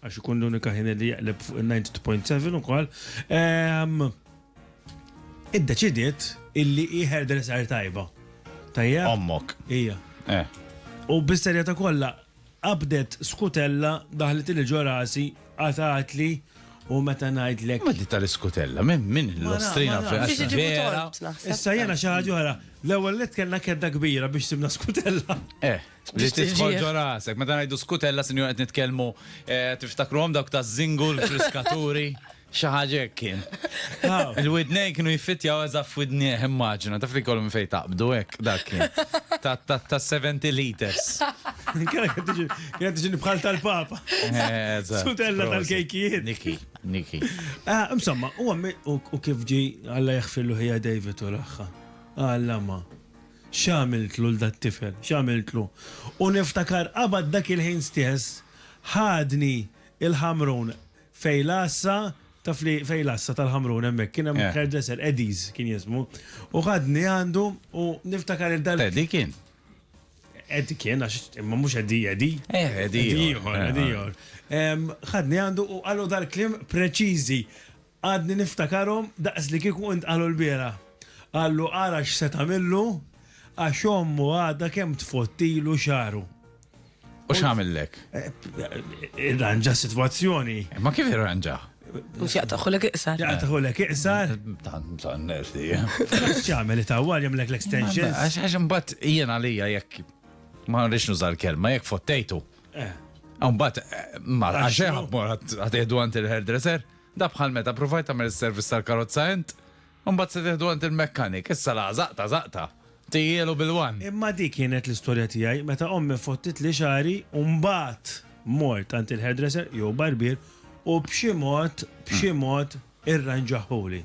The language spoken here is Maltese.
Għax ikun l-unika ħin li jaqleb fuq il-90.7 ukoll. Iddeċidiet illi hi hairdresser tajba. Tajja? Ommok. Ija. Eh. U bis-serjeta kollha qabdet skutella daħlet li ġo rasi qatatli u meta ngħidlek. Ma di tal-iskutella, minn min l-ostrina vera. Issa jena xi ħaġa oħra, l-ewwel li kellna kedda kbira biex simna skutella. Eh. Biex titħolġu rasek, meta ngħidu skutella sinjur qed nitkellmu eh, tiftakruhom dawk ta' żingu l-friskaturi. Xi ħaġa hekk kien. Il-widnej kienu jiffittjaw eżatt f'widnieh immaġina, taf li kollu minn fejn taqbdu hekk dak kien. Ta' ta' ta' 70 liters. Kienet qed tiġi- kienet tiġi bħal tal-papa. Eh, eżatt. Skutella Prosit. tal-kejkijiet. Niki, Niki. Ah, Insomma, u għammi, u u kif ġi Alla jaħfirlu ħija David u raħħa. Alla ma. X'għamiltlu 'l dat-tifel? X'għamiltlu? U niftakar qabad dak il-ħin stess ħadni l-Ħamrun fejn l-għassa, taf li fejn l-għassa tal-Ħamrun hemmhekk kien hemm hairdresser, Eddie's kien jismu, u ħadni għandu u niftakar il dal Teddy kien? Eddie kien għax imma mhux Eddie Eddie. Eh, Eddie ieħor. Eddie ieħor, Eddie ieħor. Ħadni għandu u qallu dal-kliem preċiżi, Għadni niftakarhom daqs li kieku ntqalu l-bieraħ. Qallu ara x'se tagħmillu għax ommu għadha kemm tfottilu xagħru. U x'għamillek? Irranġa s-sitwazzjoni. Imma kif irranġah? Mhux jaqtagħhulek iqsar. Jaqtagħhulek iqsar? Tan nerti. X'jagħmel itawwal jagħmlek l-extensions? Għax għax imbagħad jien għalija jekk ma nridx nuża l-kelma jekk fottejtu. Imbagħad ma għax hemm mor għad għad għand il-hairdresser. Da bħal meta pruvajt tagħmel is-service tal-karozza int, u mbagħad se tieħdu għand il-mekkanik, issa laqa' żaqta żaqta! Tiehielu bil-one! Imma dik kienet l-istorja tiegħi meta ommi fottitli xagħri u mbagħad mort għand il-hairdresser jew barbier u b'xi mod b'xi mod irranġahuli.